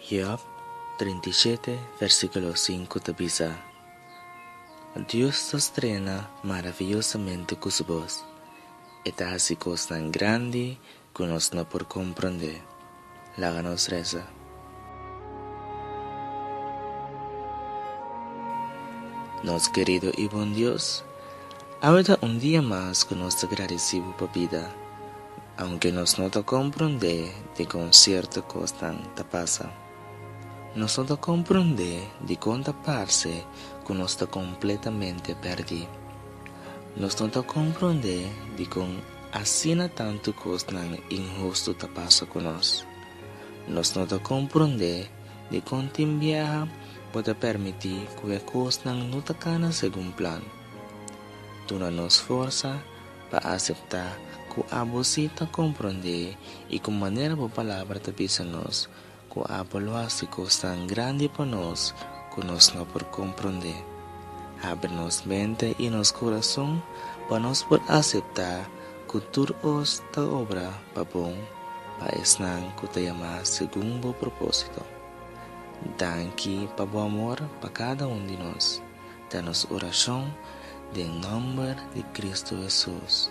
Job trinta i shete versikulo sinku ta bisa, Dios ta strena maraviyosamente ku su bos, e ta hasi kosnan grandi Cu nos no por comprende, laga nos reza. Nos querido y bon Dios, awe ta un dia mas cu nos ta gradici Bo pa bida, aunke nos no ta comprende dicon cierto cosnan ta pasa. Nos no ta comprende dicon ta parce cu nos ta completamente perdi. Nos no ta comprende dicon. Asina tantu kosnan inhustu ta pasa ku nos. Nos no ta komprondé dikon tin bieha ku ta permití ku e kosnan no ta kana segun plan. Duna nos forsa pa aseptá ku abosí ta komprondé i ku manera bo palabra ta bisa nos Ku abo lo hasi kosnan grandi pa nos ku nos no por komprondé. Habri nos mente i nos kurason pa nos por aseptá ku tur kos ta obra pa bon pa esnan ku ta yamá segun bo propósito. Danki pa bo amor pa kada un di nos, ta nos orashon den nòmber di Kristu Hesus.